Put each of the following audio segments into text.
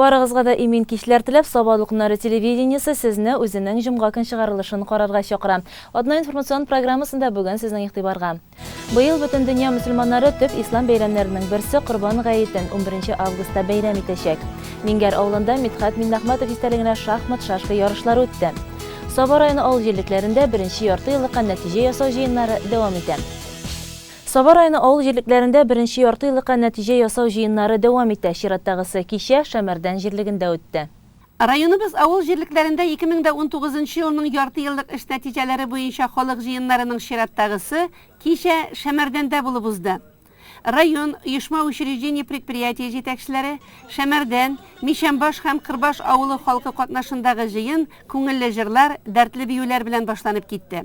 Барыгызга да имин кичләр теләп, Сабадлык нары телевидениесе сезне үзенең җомга көн чыгарылышын карарга чакыра. Атна информацион программасында бүген сезнең игътибарга. Быел бөтен дөнья мөселманнары төп ислам бәйрәмнәренең берсе Корбан гаетен 11 августта бәйрәм итәчәк. Мингәр авылында Мидхәт Миннәхмәтов истәлегенә шахмат-шашка ярышлары үтте. Саба районы авыл җирлекләрендә беренче ярты еллыкка нәтиҗә ясау җыеннары дәвам итә. Саба районы авыл җирлекләрендә беренче ярты еллыкка нәтиҗә ясау җыеннары дәвам итә. Чираттагысы кичә Шәмәрдән җирлегендә үтте. Районыбыз авыл җирлекләрендә 2019 нчы елның яртыеллык эш нәтиҗәләре буенча халык җыеннарының чираттагысы кичә Шәмәрдәндә булып узды. Район, оешма-учреждение-предприятие җитәкчеләре, Шәмәрдән, Мичәмбаш һәм Кырбаш авылы халкы катнашындагы җыен күңелле җырлар, дәртле биюләр белән башланып китте.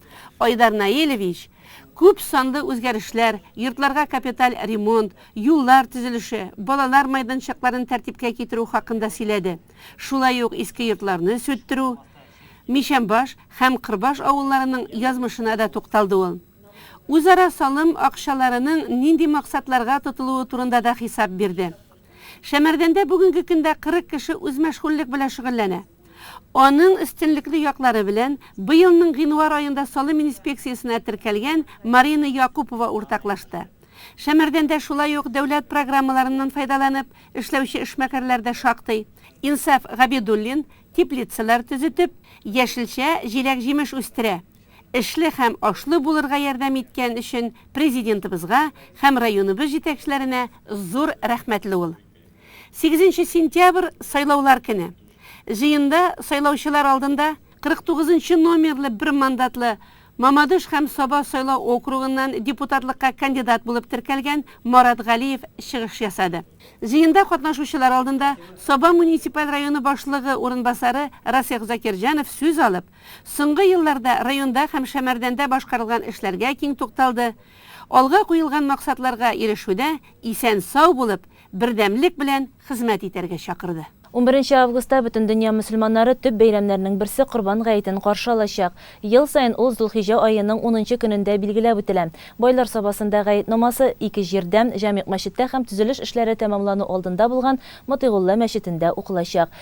Айдар Наилевич, күп санлы үзгәрешләр, йортларга капиталь ремонт, юллар төзелеше, балалар майданчыкларын тәртипкә китерү хакында сөйләде. Шулай ук иске йортларны сүттерү, Мичәмбаш һәм Кырбаш авылларының язмышына да тукталды ул. Үзара салым акчаларының нинди максатларга тотылуы турында да хисап бирде. Шәмәрдәндә бүгенге көндә 40 кеше үзмәшгульлек белән шөгыльләнә. Аның өстенлекле яклары белән быелның гыйнвар аенда салым инспекциясенә теркәлгән Марина Якупова уртаклашты. Шәмәрдәндә шулай ук дәүләт программаларыннан файдаланып эшләүче эшмәкәрләр дә шактый. Инсаф Габидуллин теплицалар төзетеп, яшелчә, җиләк-җимеш үстерә. эшле һәм ашлы булырга ярдәм иткән өчен Президентыбызга һәм районыбыз җитәкчеләренә зур рәхмәтле ул. Сигезенче сентябрь, сайлаулар көне. Җыенда сайлаучылар алдында 49 нчы номерлы бер мандатлы Мамадыш һәм Саба сайлау округыннан депутатлыкка кандидат булып теркәлгән Марат Галиев чыгыш ясады. Җыенда катнашучылар алдында Саба муниципаль районы башлыгы урынбасары Расих Закирҗанов сүз алып, Соңгы елларда районда һәм Шәмәрдәндә башкарылган эшләргә киң тукталды, алга куелган максатларга ирешүдә исән-сау булып, бердәмлек белән хезмәт итәргә чакырды. Унберенче августта Бөтендөнья мөселманнары төп бәйрәмнәренең берсе Корбан гаетен каршы алачак. Ел саен ул Зулхиҗә аеның унынчы көнендә билгеләп үтелә. Байлар Сабасында гает намазы ике җирдә, Җәмигъ мәчеттә һәм төзелеш эшләре тәмамлану алдында булган Мотыйгулла мәчетендә укылачак.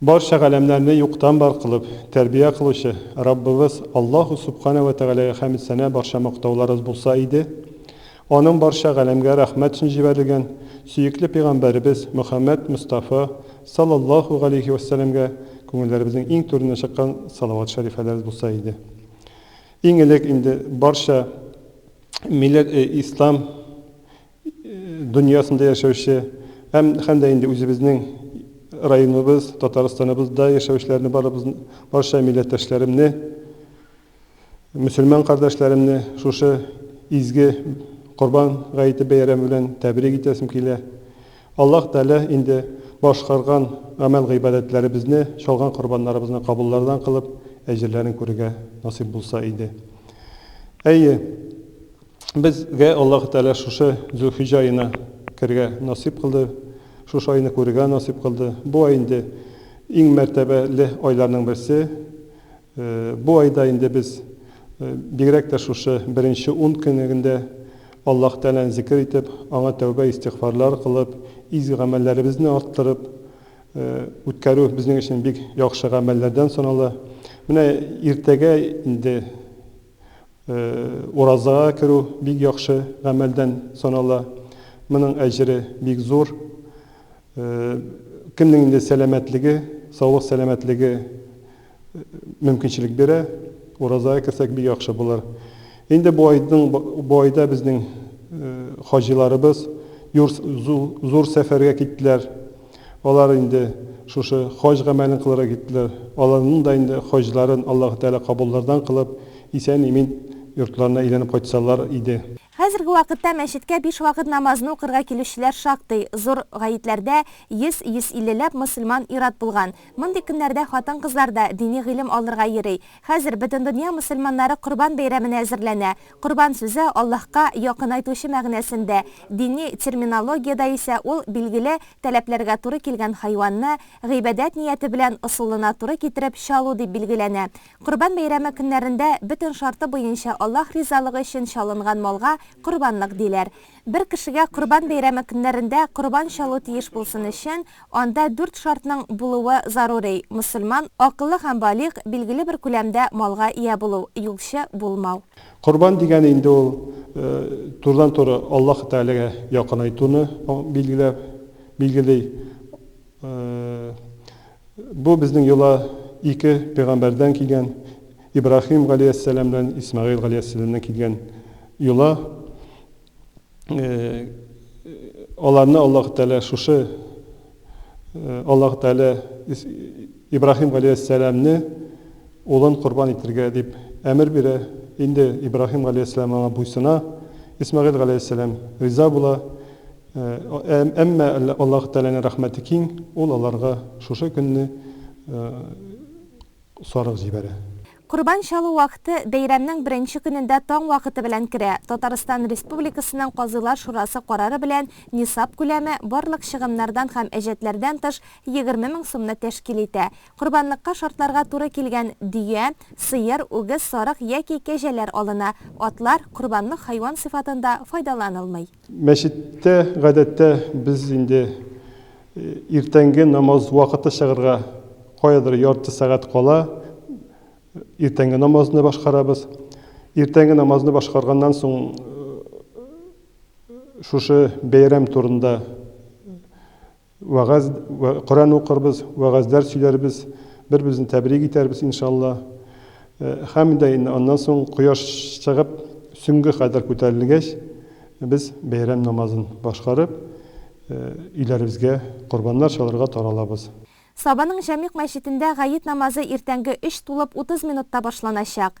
Барча галәмнәрне юктан бар кылып, тәрбия кылучы Раббыбыз Аллаһу Сүбханә вә Тәгаләгә хәмд-сәна барча мактауларыбыз булса иде! Аның барча галәмгә рәхмәт өчен җибәрелгән сөекле пәйгамбәребез Мөхәммәд Мостафа салаллаһу галәйһи вә сәләмгә күңелләребезнең иң түренә чыккан салават шәрифәләребез булса иде! Иң элек инде барча милләт ислам дөньясында яшәүче һәм һәм дә инде үзебезнең районыбыз, Татарстаныбызда яшәүчеләрне барыбыз, барча милләттәшләремне, мөселман кардәшләремне шушы изге Корбан гаете бәйрәме белән тәбрик итәсем килә. Аллаһ Тәгалә инде башкарган гамәл-гыйбадәтләребезне, чалган корбаннарыбызны кабуллардан кылып, әҗерләрен күрергә насыйп булса иде. Әйе, Безгә Аллаһы Тәгалә шушы Зөлхиҗә аена кергә насыйп кылды, шушы айны күрергә насыйп кылды. Бу ай инде иң мәртәбәле айларның берсе. Бу айда инде без бигрәк тә шушы беренче ун көнегендә Аллаһы Тәгаләне зикер итеп, аңа тәүбә-истигъфарлар кылып, изге гамәлләребезне арттырып үткәрү безнең өчен бик яхшы гамәлләрдән санала. Менә иртәгә инде Уразага керү бик яхшы гамәлдән санала. Моның әҗере бик зур. Кемнең инде сәламәтлеге, саулык-сәламәтлеге мөмкинчелек бирә, уразага керсәк бик яхшы булыр. Инде бу айның, бу айда безнең хаҗиларыбыз зур сәфәргә киттеләр. Алар инде шушы хаҗ гамәлен кылырга киттеләр. Аларның да инде хаҗларын Аллаһы Тәгалә кабуллардан кылып, исән-имин йортларына әйләнеп кайтсалар иде. Хәзерге вакытта мәчеткә биш вакыт намазны укырга килүчеләр шактый. Зур гәетләрдә 100-150 ләп мөселман ир-ат булган. Мондый көннәрдә хатын-кызлар да дини гыйлем алырга йөри. Хәзер Бөтендөнья мөселманнары Корбан бәйрәменә әзерләнә. Корбан сүзе Аллаһка якынайтучы мәгънәсендә, дини терминологиядә исә ул билгеле таләпләргә туры килгән хайванны гыйбадәт нияте белән ысулына туры китереп чалу дип билгеләнә. Корбан бәйрәме көннәрендә бөтен шарты буенча Аллаһ ризалыгы өчен чалынган малга корбанлык диләр. Бер кешегә Корбан бәйрәме көннәрендә корбан чалу тиеш булсын өчен, анда дүрт шартның булуы зарури, мөселман, акыллы һәм балигъ, билгеле бер күләмдә малга ия булу, юлчы булмау. Корбан дигәне инде ул турыдан-туры Аллаһы Тәгаләгә якынайтуны билгели. Бу безнең йола ике пәйгамбәрдән килгән, Ибраһим галиәссәлам белән Исмәгыйль галиәссәләмнән килгән йола. Аларны Аллаһ Тәгалә шушы Аллаһ Тәгалә Ибраһим галиәссәламне улын корбан итергә дип әмер бирә. Инде Ибраһим галиәссәлам аңа буйсына, Исмәгыйль галиәссәлам риза була. Әмма Аллаһы Тәгаләнең рәхмәте киң, Ул аларга шушы көнне сарык җибәрә. Корбан чалу вакыты бәйрәмнең беренче көнендә таң вакыты белән керә. Татарстан Республикасының Казыйлар шурасы карары белән нисаб күләме, барлык чыгымнардан һәм әҗәтләрдән тыш, егерме мең сумны тәшкил итә. Корбанлыкка шартларга туры килгән дөя, сыер, үгез, сарык яки кәҗәләр алына. Атлар, корбанлык хайван сыйфатында файдаланылмый. Мәчеттә, гадәттә, без инде иртәнге намаз вакыты чыгарга каядыр ярты сәгать кала, иртәнге намазны башкарабыз. Иртәнге намазны башкарганнан соң, шушы бәйрәм турында Вәгазь вә Коръән укырбыз, вәгазьләр сөйләрбез, бер-беребезне тәбрик итәрбез, иншалла. Һәм дә инде аннан соң кояш чыгып, сөнгә кадәр күтәрелгәч, без бәйрәм намазын башкарып, өйләребезгә корбаннар чалырга таралабыз. Сабаның Җәмигъ мәчетендә гает намазы иртәнге өч тулып утыз минутта башланачак.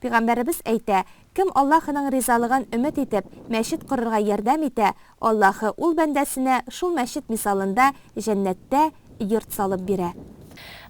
Пигамбәребез әйтә, Кем Аллаһының ризалыгын өмет итеп, мәчет корырга ярдәм итә, Аллаһы ул бәндәсенә шул мәчет мисалында җәннәттә йорт салып бирә.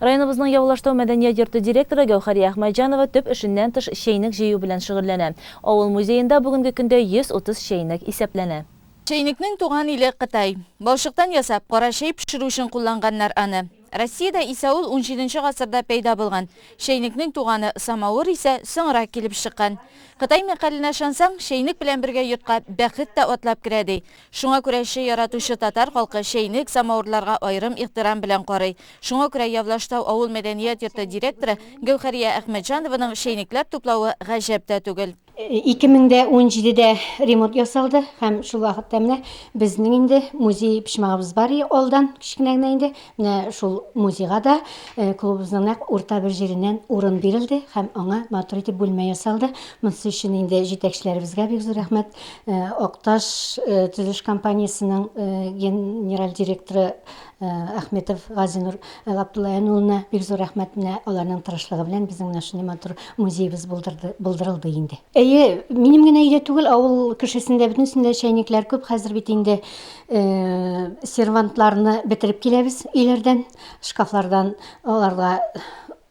Районыбызның Явылаштау мәдәният йорты директоры Гәүһәрия Әхмәтҗанова төп эшеннән тыш чәйнек җыю белән шөгыльләнә. Авыл музеенда бүгенге көндә 130 чәйнек исәпләнә. Чәйнекнең туган иле Кытай. Балчыктан ясап, кара чәй пешерү өчен кулланганнар аны. Россиядә исә ул унҗиденче гасырда пәйда булган. Чәйнекнең туганы самавыр исә соңрак килеп чыккан. Кытай мәкаленә ышансаң, чәйнек белән бергә йортка бәхет тә атлап керә, ди. Шуңа күрә чәй яратучы татар халкы чәйнек, самавырларга аерым ихтирам белән карый. Шуңа күрә Явлаштау авыл мәдәният йорты директоры Гәүһәрия Әхмәтҗанованың чәйнекләр туплавы гаҗәп тә түгел. Ике мең дә унҗидедә ремонт ясалды һәм шул вакытта менә безнең инде музей почмагыбыз бар и алдан кечкенә генә инде менә шул музейга да э, клубыбызның нәкъ урта бер җиреннән урын бирелде һәм аңа матур итеп бүлмә ясалды монысы өчен инде җитәкчеләребезгә бик зур рәхмәт э, акташ э, төзелеш компаниясенең генераль директоры Әхметов Газинур Габдуллаян улына бик зур рәхмәт, менә аларның тырышлыгы белән безнең менә шундый матур музеебыз булдырды, булдырылды инде. Әйе, минем генә өйдә түгел, авыл кешесендә бөтенесендә чәйнекләр күп, хәзер бит инде сервантларны бетереп киләбез өйләрдән, шкафлардан аларга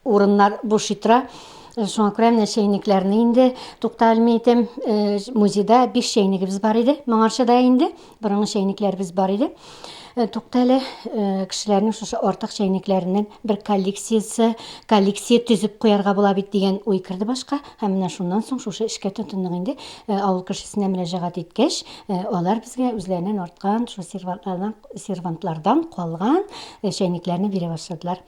Урыннар бушый тора. Шуңа күрә менә чәйнекләрне инде тукта алмый итәм. Э, музейда биш чәйнегебез бар иде. Моңарчыда инде борынгы чәйнекләребез бар иде. Э, тукта әле э, кешеләрнең шушы артык чәйнекләреннән бер коллекциясе, коллекция төзеп куярга була бит дигән уй керде башка. Һәм менә шуннан соң шушы эшкә тотындык инде. Авыл кешесенә мөрәҗәгать иткәч, алар безгә үзләреннән арткан шул сервантлардан калган чәйнекләрне бирә башладылар.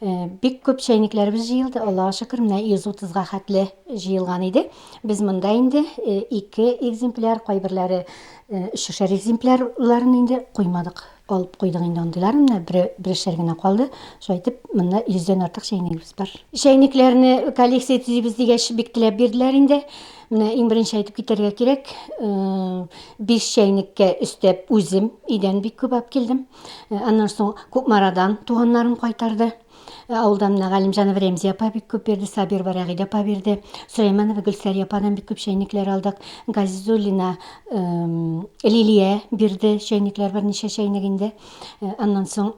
Э, бик күп чәйникләребез җыелды аллага шөкер менә йөз утызга хәтле җыелган иде без монда инде э, ике экземпляр кайберләре э, өчешәр экземплярларын инде куймадык алып куйдык инде андыйлар менә берешәр генә калды шулай итеп монда йөздән артык чәйнигебез бар чәйникләрне коллекция төзибез дигәч бик теләп бирделәр инде менә иң беренче әйтеп китәргә кирәк э, биш чәйнеккә өстәп үзем өйдән бик күп алып килдем Э, аннан соң Кукмарадан туганнарым кайтарды. Э, авылда менә Галимҗанова Рәмзия апа бик күп бирде, Сабирова Рәгыйдә апа бирде, Сөләйманова Гөлсәрия ападан бик күп чәйнекләр алдык. Газизуллина эм, Лилия бирде чәйнекләр, берничә чәйнек инде. Э, аннан соң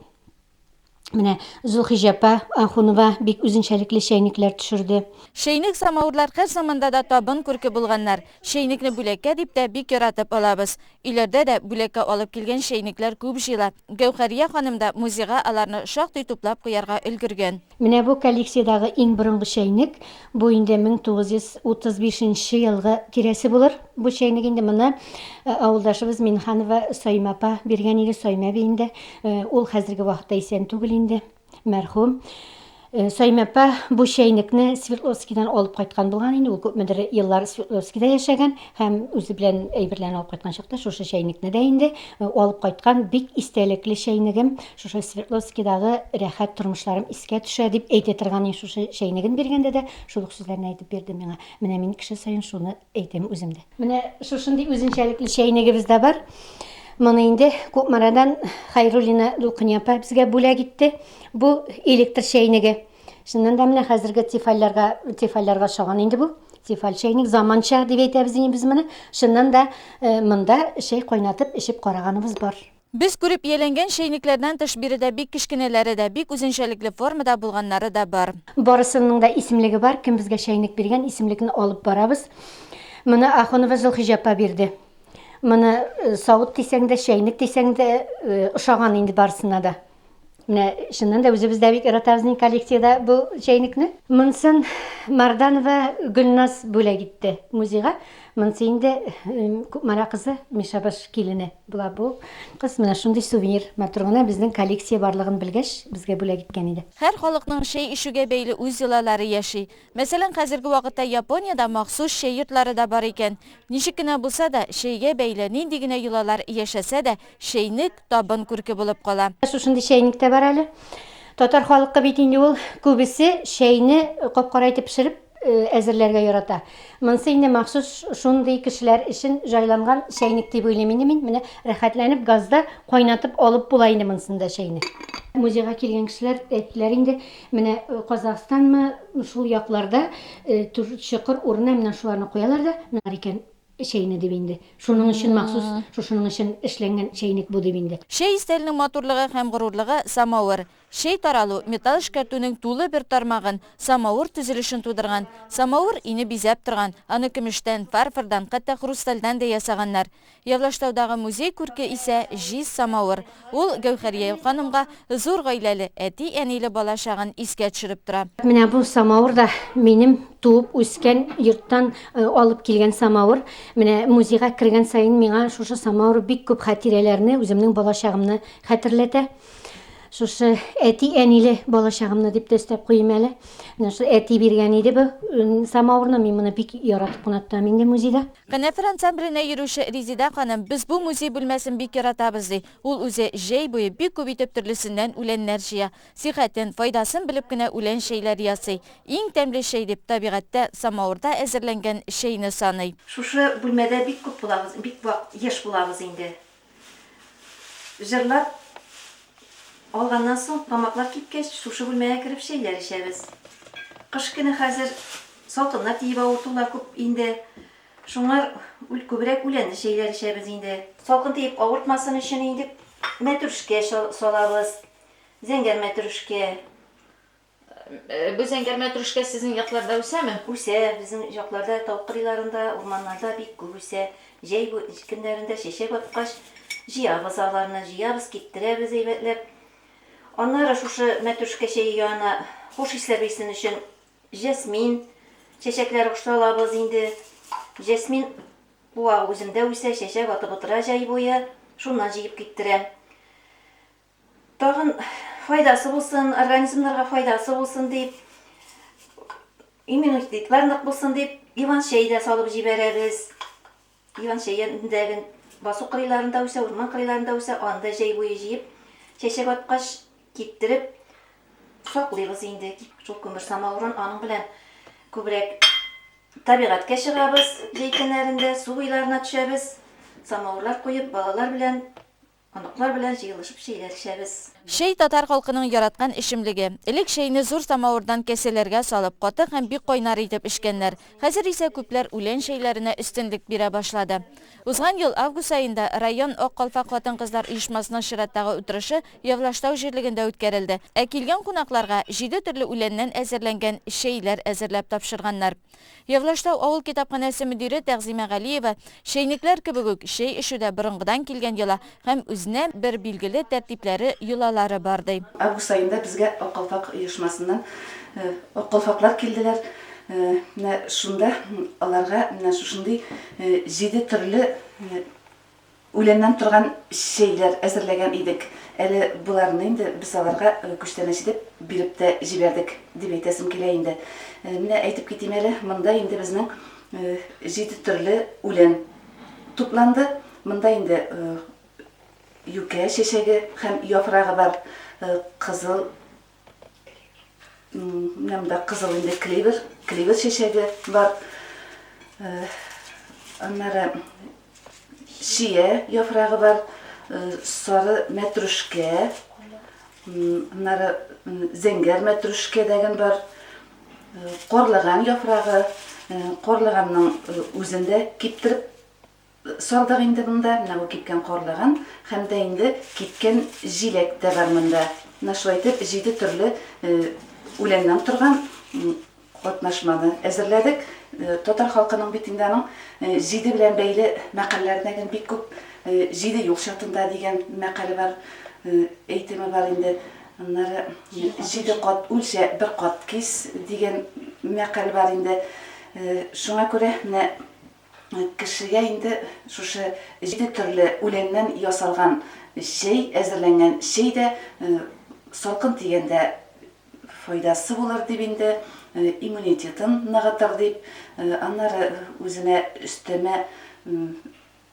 Менә Зулхиҗә апа Ахунова бик үзенчәлекле чәйнекләр төшерде. Чәйнек самавырлар һәр заманда да табын күрке булганнар. Чәйнекне бүләккә дип тә бик яратып алабыз. Өйләрдә дә бүләккә алып килгән чәйнекләр күп җыела. Гәүһәрия ханым да музейга аларны шактый туплап куярга өлгергән. Менә бу коллекциядагы иң борынгы чәйнек. Бу инде 1935 нче елгы тирәсе булыр. Бу чәйнек инде моны авылдашыбыз Минһанова Саимә апа биргән иде, Саимә әби инде. Ул хәзерге вакытта исән түгел инде. Мәрхүм Саймәпә бу чәйнекне Свердловскидан алып кайткан булган инде. Ул күпмедер еллар Свердловскида яшәгән һәм үзе белән әйберләрен алып кайткан чакта шушы чәйнекне дә инде э, алып кайткан бик истәлекле чәйнегем. Шушы Свердловскидагы рәхәт тормышларым искә төшә дип әйтә торган шушы чәйнеген биргәндә дә шул ук сүзләрне әйтеп бирде миңа. Менә мин кеше саен шуны Әйтәм үзем дә. Менә шушындый үзенчәлекле чәйнегебез дә бар. Моны инде Кукмарадан Хайруллина Дулкыния апа безгә бүләк итте. Бу электр чәйнеге. Чыннан да менә хәзерге тефальләргә, тефальләргә ошаган инде бу. Тефаль чәйник заманча дип әйтәбез инде без моны. Чыннан да э, монда чәй кайнатып эчеп караганыбыз бар. Без күреп ияләнгән чәйнекләрдән тыш биредә бик кечкенәләре дә, бик үзенчәлекле формада булганнары да бар. Барысының да исемлеге бар, кем безгә чәйнек биргән, исемлекне алып барабыз. Моны Ахунова Зөлхиҗә апа бирде. Моны савыт дисәң дә, чәйнек дисәң дә, ошаган инде барысына да. Менә чыннан да үзебез дә бик яратабыз инде коллекциядә бу чәйнекне. Монсын Марданова Гөлназ бүләк итте музейга. Монсы инде Кукмара кызы Мишабаш килене була бу. Кыз менә шундый сувенир матур гына безнең коллекция барлыгын белгәч, безгә бүләк иткән иде. Һәр халыкның чәй эчүгә бәйле үз йолалары яши. Мәсәлән, хәзерге вакытта Япониядә махсус чәй йортлары да бар икән. Ничек кенә булса да, чәйгә бәйле нинди генә йолалар яшәсә дә, чәйнек, табын күрке булып кала. Шушындый чәйник тә бар әле. Татар халкы бит инде ул күбесе чәйне капкара итеп пешереп әзерләргә ярата. Монсы инде махсус шундый кешеләр өчен җайланган чәйник дип уйлыйм инде мин. Менә рәхәтләнеп газда кайнатып алып була инде монсын да чәйне. Музейга килгән кешеләр әйттеләр инде, менә Казахстанмы, шул якларда чокыр урынына менә шуларны куялар да, менә икән. Чәйне дип инде. Шуның өчен махсус шушының өчен эшләнгән чәйнек бу дип инде. Чәй өстәленең матурлыгы һәм горурлыгы, самавыр. Чәй таралу, металл эшкәртүнең тулы бер тармагын, самавыр төзелешен тудырган. Самавыр өйне бизәп торган. Аны көмештән, фарфордан, хәтта хрустальдән дә ясаганнар. Явлаштаудагы музей күрке исә, җиз самавыр. Ул Гәүһәрия ханымга зур гаиләле, әти-әниле бала чагын искә төшереп тора. Менә бу самавыр да минем туып үскән йорттан алып килгән самавыр. Менә музейга кергән саен миңа шушы самавыр бик күп хатирәләрне, үземнең балачагымны хәтерләтә. Шушы әти-әниле балачагымны дип тә өстәп куйыйм әле. Менә шул әти биргән иде бу самавырны. Мин моны бик яратып кына тотам инде музейда. Канәфер ансамбленә йөрүче Резидә ханым, Без бу музей бүлмәсен бик яратабыз, ди. Ул үзе җәй буе бик күп итеп төрлесеннән үләннәр җыя. Сихәтен, файдасын белеп кенә үлән чәйләре ясый. Иң тәмле чәй дип, табигатьтә, самавырда әзерләнгән чәйне саный. Шушы бүлмәдә бик күп булабыз, бик вак еш булабыз инде. Җырлап алганнан соң, тамаклар кипкәч, шушы бүлмәгә кереп чәйләр эчәбез. Кыш көне хәзер салкыннар тиеп авыртулар күп инде. Шуңар үл күбрәк үләнле чәйләр эчәбез инде. Салкын тиеп авыртмасын өчен инде мәтрүшкә салабыз. Зәңгәр мәтрүшкә, Бу зәңгәрмә трүшкә сезнең якларда үсәме? Үсә, безнең җакларда тау кырыйларында, урманнарда бик күп үсә. Җәй бу көннәрендә чәчәк аткач, җыябыз аларны, җыябыз, киптерәбез әйбәтләп. Аннары шушы мәтрүшкә чәе янына хуш исләр бирсен өчен җәсмин чәчәкләре кушып алабыз инде. Җәсмин куагы үземдә үсә, чәчәк атып утыра җәй буе, шуннан җыеп киптерәм. Тагын файдасы булсын, организмнарга файдасы булсын дип, иммунитетлар нык булсын дип, иван чәй дә салып җибәрәбез. Иван чәендә гел басу кырыйларында үсә, урман кырыйларында үсә, аны да җәй буе җыеп, чәчәк аткач киптереп саклыйбыз инде. Шул күмер самавырын аның белән күбрәк табигатькә чыгабыз, җәй көннәрендә су буйларына төшәбез, самавырлар куеп, балалар белән Оныклар белән җыелышып чәйләр эчәбез. Чәй, татар халкының яраткан эчемлеге. Элек чәйне зур самавырдан кәсәләргә салып, каты һәм бик кайнар итеп эчкәннәр. Хәзер исә күпләр үлән чәйләренә өстенлек бирә башлады. Узган ел август аенда район Ак калфак хатын-кызлар оешмасының чираттагы утырышы Явлаштау җирлегендә үткәрелде. Ә килгән кунакларга җиде төрле үләннән әзерләнгән чәйләр әзерләп тапшырганнар. Егълаштау авыл китапханәсе мөдире Тәгъзимә Галиева чәйнекләр кебек үк чәй эчүдә борынгыдан килгән йола һәм үзенә бер билгеле тәртипләре, йолалары бар, ди. Август аенда безгә Ак калфак оешмасыннан ак калфаклар килделәр. Менә шунда аларга менә шушындый җиде төрле Үләннән торган чәйләр әзерләгән идек. Әле боларны инде без аларга күчтәнәч итеп биреп тә җибәрдек, дип әйтәсем килә инде. Менә әйтеп китим әле, монда инде безнең җиде төрле үлән тупланды. Монда инде юкә чәчәге һәм яфрагы бар, кызыл Менә монда кызыл инде клевер, клевер чәчәге бар. Э, аннары шия яфрагы бар, э, сары мәтрүшкә, аннары зәңгәр мәтрүшкә дәген бар. Э, Корлыган яфрагы, корлыганның үзендә киптереп Салдык инде монда, менә бу кипкән карлыган һәм дә инде кипкән җиләк тә бар монда. Менә шулай итеп, җиде төрле үләннән торган катнашманы әзерләдек. Татар халкының бит инде аның җиде белән бәйле мәкальләренә гел бик күп Җиде юл чатында дигән мәкале бар, әйтеме бар инде. Аннары Җиде кат үлчә, бер кат кис дигән мәкаль бар инде. Шуңа күрә менә Кешегә инде шушы җиде төрле үләннән ясалган чәй, әзерләнгән чәй дә салкын тигәндә файдасы булыр дип инде, иммунитетын ныгытыр дип, аннары үзенә өстәмә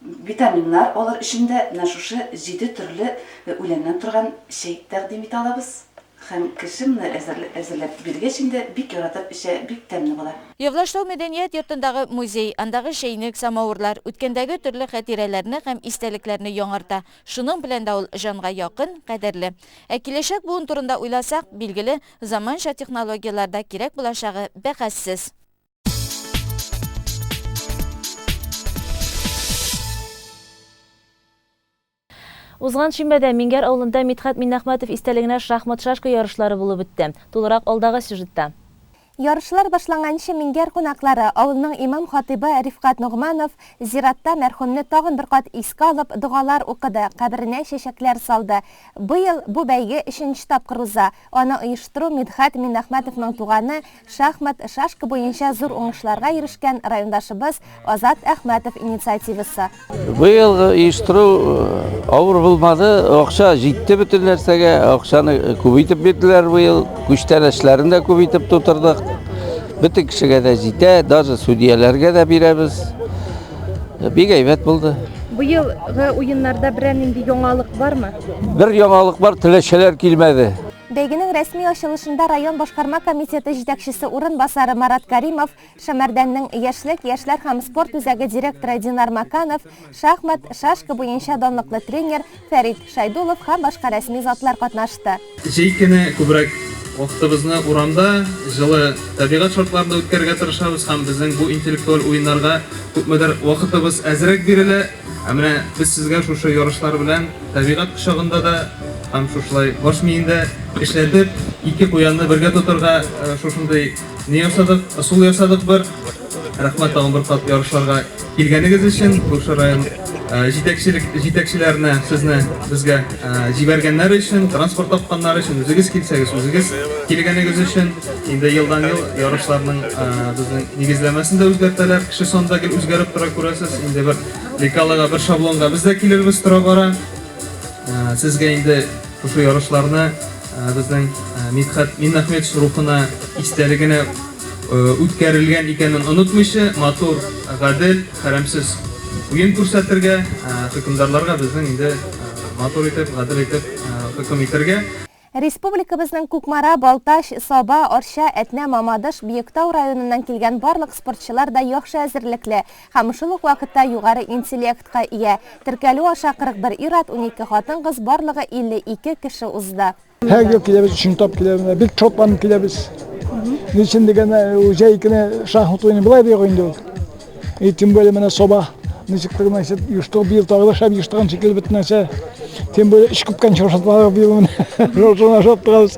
витаминнар алыр өчен дә менә шушы җиде төрле үләннән торган чәй тәкъдим итә алабыз. Һәм кеше моны әзерләп биргәч инде бик яратып эчә, бик тәмле була. Явлашлау мәдәният йортындагы музей, андагы чәйнек, самавырлар, үткәндәге төрле хәтирәләрне һәм истәлекләрне яңарта, шуның белән дә ул җанга якын, кадерле. Ә киләчәк буын турында уйласак, билгеле, заманча технологияләр дә кирәк булачагы бәхәссез. Узган шимбәдә Миңгәр авылында Мидхәт Миннәхмәтов истәлегенә шахмат-шашка ярышлары булып үтте. Тулырак алдагы сюжетта. Ярышлар башланганчы Миңгәр кунаклары, авылның имам-хатыйбы Рифкать Ногманов зиратта мәрхүмне тагын бер кат искә алып, догалар укыды, каберенә чәчәкләр салды. Быел бу бәйге өченче тапкыр уза. Аны оештыру Мидхәт Миннәхмәтовның туганы, шахмат, шашка буенча зур уңышларга ирешкән райондашыбыз Азат Әхмәтов инициативасы. Быелгы оештыру авыр булмады, акча җитте бөтен нәрсәгә, акчаны күбәйтеп бирделәр быел, күчтәнәчләрен дә күбәйтеп тутырдык. Бөтен кешегә дә җитә, даже судьяләргә дә бирәбез. Бик әйбәт булды. Быелгы уеннарда берәр нинди яңалык бармы? Бер яңалык бар, теләшәләр килмәде. Бәйгенең рәсми ачылышында район башкарма комитеты җитәкчесе урынбасары Марат Каримов, Шәмәрдәннең яшьлек, яшьләр һәм спорт үзәге директоры Динар Маканов, шахмат, шашка буенча данлыклы тренер Фәрит Шәйдуллов һәм башка рәсми затлар катнашты. Җәй көне күбрәк вакытыбызны урамда, җылы табигать шартларында үткәрергә тырышабыз һәм безнең бу интеллектуаль уеннарга күпмедер вакытыбыз әзрәк бирелә. Ә менә без сезгә шушы ярышлар белән табигать кочагында да һәм шушылай баш миендә эшләтеп, ике куянны бергә тотырга шушындый Не ясадык, ысул ясадык бер. Рәхмәт тагын бер кат ярышларга килгәнегез өчен. Күрше район җитәкчелек җитәкчеләренә сезне безгә җибәргәннәр өчен, транспорт тапканнар өчен, үзегез килсәгез, үзегез килгәнегез өчен. Инде елдан ел ярышларның безнең нигезләмәсен дә үзгәртәләр. Кеше санда гел үзгәреп тора күрәсез. Инде бер лекалага, бер шаблонга без дә килербез тора бара. Сезгә инде шушы ярышларны Безнең Мидхәт Миннәхметович рухына истәлегенә үткәрелгән икәнен онытмыйча, матур, гадел, хәрамсез уен күрсәтергә, хөкемдарларга безнең инде матур итеп, гадел итеп хөкем итергә. Республикабызның Кукмара, Балтач, Саба, Арча, Әтнә, Мамадыш, Биектау районыннан килгән барлык спортчылар да яхшы әзерлекле. Һәм шул ук вакытта югары интеллектка ия. Теркәлү аша 41 ир-ат, унике хатын-кыз, барлыгы 52 кеше узды. Һәр ел киләбез, өченче тапкыр киләбез. Менә бик шатланып киләбез. Ни өчен дигәндә, җәй көне шахмат уйный болай да юк инде ул. И тем более менә саба ничек кенә итеп юштыгып бил тагы да шәп юштыган шикелле бөтен нәрсә. Тем более эш күпкән чоршатмалар бил менә. Шуңа шат торабыз.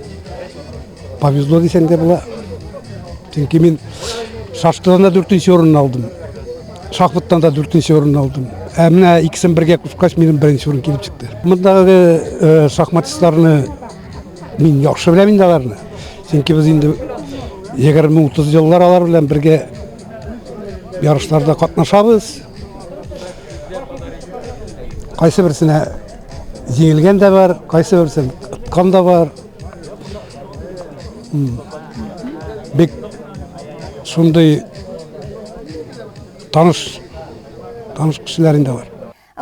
Повезло дисәң дә була. Чөнки мин шашкадан да дүртенче урын алдым. Шахматтан да дүртенче урын алдым. Ә менә икесен бергә кушкач, минем беренче урын килеп чыкты. Мондагы э, шахматистларны мин яхшы беләм инде аларны. Чөнки без инде 20-30 еллар алар белән бергә ярышларда катнашабыз. Кайсы берсенә Җиңелгән дә бар, кайсы берсен откан да бар. Бик шундый таныш таныш кешеләр инде бар.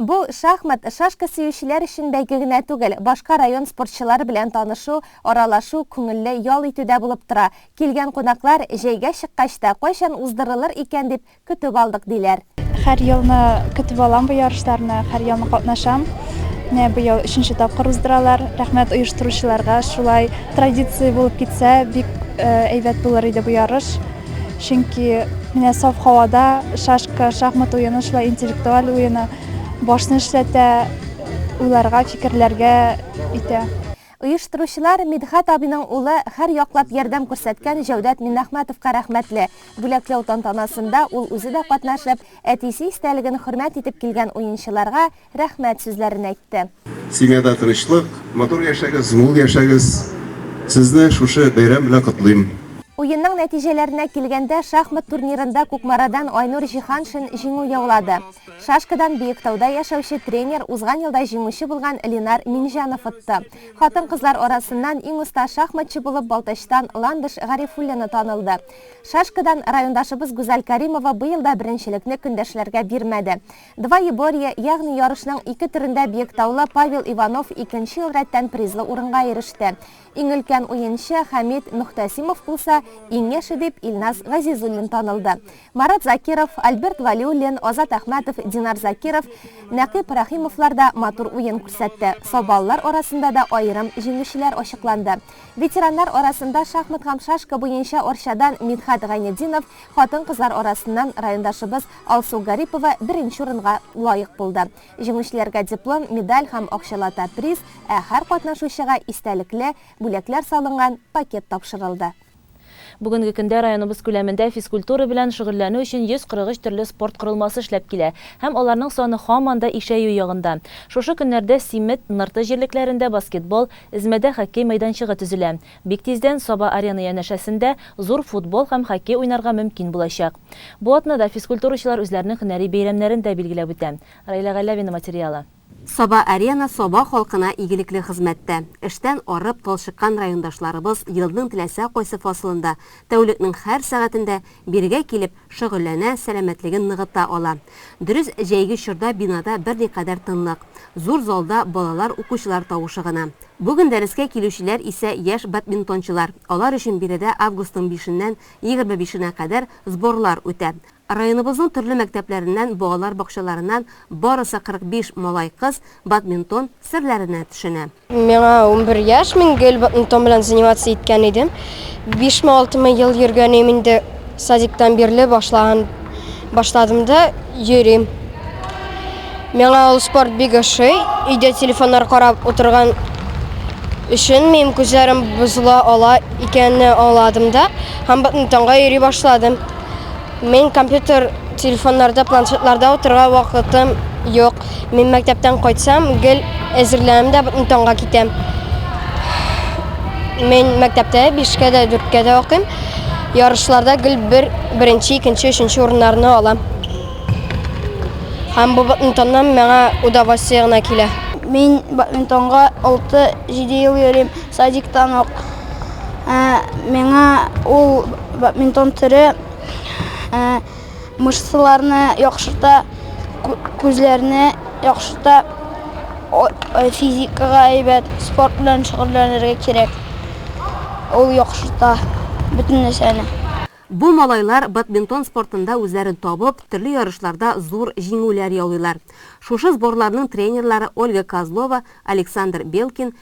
Бу шахмат шашка сөючеләр өчен бәйге генә түгел, башка район спортчылары белән танышу, аралашу, күңелле ял итү дә булып тора. Килгән кунаклар, җәйгә чыккач та, кайчан уздырылыр икән дип, көтеп алдык, диләр. Һәр елны көтеп алам бу ярышларны, һәр елны катнашам. Менә быел өченче тапкыр уздыралар. Рәхмәт оештыручыларга. Шулай традиция булып китсә, бик әйбәт булыр иде бу ярыш. Чөнки менә саф һавада шашка, шахмат уены шулай интеллектуаль уены башны эшләтә, уйларга, фикерләргә итә. Оештыручылар Мидхәт абыйның улы хәр яклап ярдәм күрсәткән Җәүдәт Миннәхмәтовка рәхмәтле. Бүләкләү тантанасында ул үзе дә катнашып, әтисе истәлеген хөрмәт итеп килгән уенчыларга рәхмәт сүзләрен әйтте. Семьяда тынычлык, матур яшәгез, мул яшәгез. Сезне шушы бәйрәм белән котлыйм. Уенның нәтиҗәләренә килгәндә, шахмат турнирында Кукмарадан Айнур Җиһаншин җиңү яулады. Шашкадан Биектауда яшәүче тренер узган елда җиңүче булган Ленар Минҗанов отты. Хатын-кызлар арасыннан иң оста шахматчы булып Балтачтан Ландыш Гарифуллина танылды. Шашкадан райондашыбыз Гүзәл Кәримова быел да беренчелекне көндәшләргә бирмәде. Двоеборье, ягъни ярышның ике төрендә биектаулы Павел Иванов икенче ел рәттән призлы урынга иреште. Иң өлкән уенчы Хәмит Мөхтәсимов булса, иң яше дип Илназ Газизуллин танылды. Марат Закиров, Альберт Вәлиуллин, Азат Әхмәтов, Динар Закиров, Нәкыйп Рәхимовлар да матур уен күрсәтте. Сабалылар арасында да аерым җиңүчеләр ачыкланды. Ветераннар арасында шахмат һәм шашка буенча Арчадан Мидхәт Гайнетдинов, хатын-кызлар арасыннан райондашыбыз Алсу Гарипова беренче урынга лаек булды. Җиңүчеләргә диплом, медаль һәм акчалата приз, ә һәр катнашучыга истәлекле бүләкләр салынган пакет тапшырылды. Бүгенге көндә районыбыз күләмендә физкультура белән шөгыльләнү өчен 143 төрле спорт корылмасы эшләп килә һәм аларның саны һаман да ишәю ягында. Шушы көннәрдә Симет, Нырты җирлекләрендә баскетбол, Эзмәдә хоккей мәйданчыгы төзелә. Бик тиздән Саба-Арена янәшәсендә зур футбол һәм хоккей уйнарга мөмкин булачак. Бу атнада физкультурачылар үзләренең һөнәри бәйрәмнәрен дә билгеләп үтә. Раилә Галәвина материалы. Саба-Арена Саба халкына игелекле хезмәттә. Эштән арып, талчыккан райондашларыбыз елның теләсә кайсы фасылында, тәүлекнең һәр сәгатендә бирегә килеп, шөгыльләнә, сәламәтлеген ныгыта ала. Дөрес, җәйге чорда бинада берникадәр тынлык. Зур залда балалар, укучылар тавышы гына. Бүген дәрескә килүчеләр исә яшь бадминтончылар. Алар өчен биредә августның бишеннән егерме бишенә кадәр сборлар үтә. Районыбызның төрле мәктәпләреннән, балалар бакчаларыннан барысы 45 малай-кыз бадминтон серләренә төшенә. Миңа унбер яшь, мин гел бадминтон белән заниматься иткән идем. Бишме-алтымы ел йөргәнем инде, садиктан бирле башлаган. Башладым да йөрим. Миңа ул спорт бик ошый. Өйдә телефоннар карап утырган өчен минем күзләрем бозыла ала икәнне аңладым да һәм бадминтонга йөри башладым. Мин компьютер, телефоннарда, планшетларда утырга вакытым юк. Мин мәктәптән кайтсам, гел әзерләнәм дә бөтен таңга китәм. Мин мәктәптә 5-кә дә 4-кә дә укыйм. Ярышларда гел бер беренче, икенче, өченче урыннарны алам. Һәм бу бөтен миңа удовольствие гына килә. Мин бөтентонга 6-7 ел йөрим, садиктан ук. Ә, миңа ул бөтентон төре, ә, мышцаларны яхшырта, күзләрне яхшырта, физикага әйбәт, спорт белән шөгыльләнергә кирәк. Ул яхшырта бөтен нәрсәне. Бу малайлар бадминтон спортында үзләрен табып, төрле ярышларда зур җиңүләр яулыйлар. Шушы сборларның тренерлары Ольга Козлова, Александр Белкин,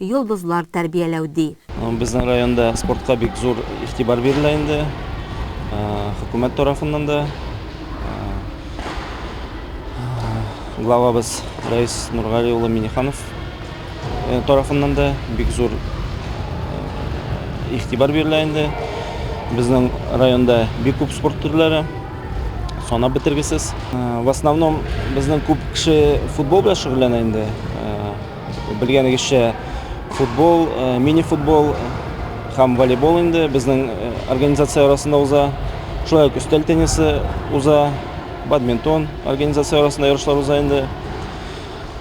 йолдызлар тәрбияләү, ди. Безнең районда спортка бик зур игътибар бирелә инде, хөкүмәт тарафыннан да. Главабыз Рәис Нургали улы Миниханов тарафыннан да бик зур игътибар бирелә инде. Безнең районда бик күп спорт төрләре, санап бетергесез. В основном безнең күп кеше футбол белән шөгыльләнә инде. Белгәнегезчә, футбол, мини-футбол һәм волейбол инде безнең организация арасында уза. Шулай ук өстәл теннисы уза, бадминтон организация арасында ярышлар уза инде.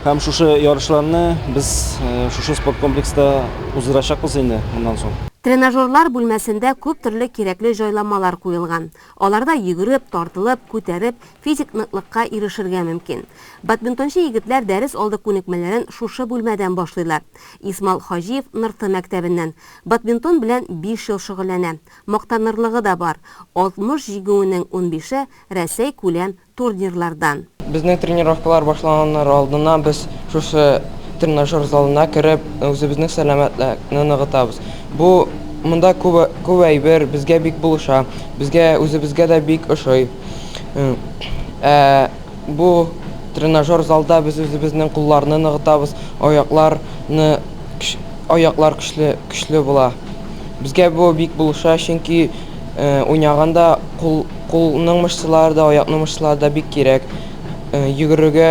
Һәм шушы ярышларны без шушы спорт комплекста уздырачакбыз инде моннан соң. Тренажерлар бүлмәсендә күп төрле кирәкле җайланмалар куелган. Аларда йөгереп, тартылып, күтәреп, физик ныклыкка ирешергә мөмкин. Бадминтончы егетләр дәрес алды күнекмәләрен шушы бүлмәдән башлыйлар. Исмал Хаҗиев Нырты мәктәбеннән. Бадминтон белән биш ел шөгыльләнә. Мактанырлыгы да бар, 60 җигүенең унбише, Рәсәй күләм турнирлардан. Безнең тренировкалар башланганнар алдыннан без шушы тренажер залына кереп, үзебезнең сәламәтлекне ныгытабыз. Бу монда күп күп әйбер безгә бик булыша, безгә үзебезгә дә бик ошый. Ә бу тренажер залда без үзебезнең кулларны ныгытабыз, аякларны аяклар көчле көчле була. Безгә бу бик булыша, чөнки. Уйнаганда кул, кулның мышцалары да, аякның мышцалары да бик кирәк. Йөгерергә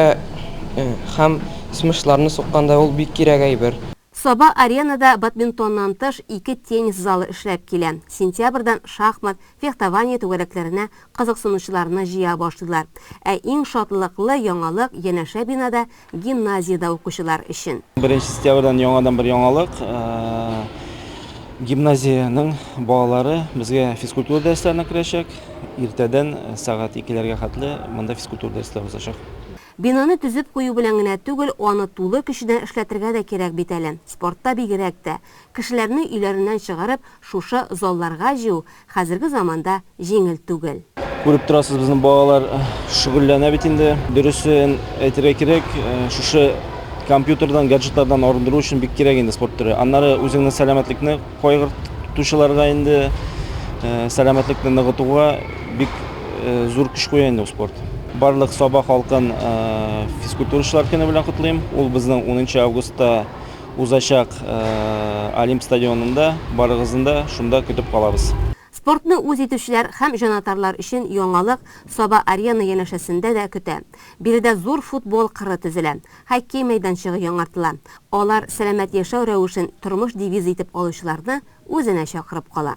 һәм смышларны сукканда ул бик кирәк әйбер. Саба-Аренада бадминтоннан тыш ике теннис залы эшләп килә. Сентябрьдән шахмат, фехтование түгәрәкләренә кызыксынучыларны җыя башлыйлар. Ә иң шатлыклы яңалык, янәшә бинада Гимназиядә укучылар өчен. Беренче сентябрьдән яңадан бер яңалык. Гимназиянең балалары безгә физкультура дәресләренә керәчәк. Иртәдән сәгать икеләргә хәтле монда физкультура дәресләре узачак. Бинаны төзеп кую белән генә түгел, аны тулы көченә эшләтергә дә кирәк бит әле. Спортта бигрәк тә. Кешеләрне өйләреннән чыгарып шушы залларга җыю хәзерге заманда җиңел түгел. Күреп торасыз, безнең балалар шөгыльләнә бит инде. Дөресен әйтергә кирәк, шушы компьютердан, гаджетлардан арындыру өчен бик кирәк инде спорт төре. Аннары үзеңнең сәламәтлекне кайгыртучыларга инде сәламәтлекне ныгытуга бик зур көч куя инде ул спорт. Барлык Саба халкын физкультурачылар көне белән котлыйм. Ул безнең унынчы августта Узачак Олимп стадионында барыгызны да шунда көтеп калабыз. Спортны үз итүчеләр һәм җанатарлар өчен яңалык Саба-Арена янәшәсендә дә көтә. Биредә зур футбол кыры төзелә, хоккей мәйданчыгы яңартыла. Алар сәламәт яшәү рәвешен тормыш девизы итеп алучыларны үзенә чакырып кала.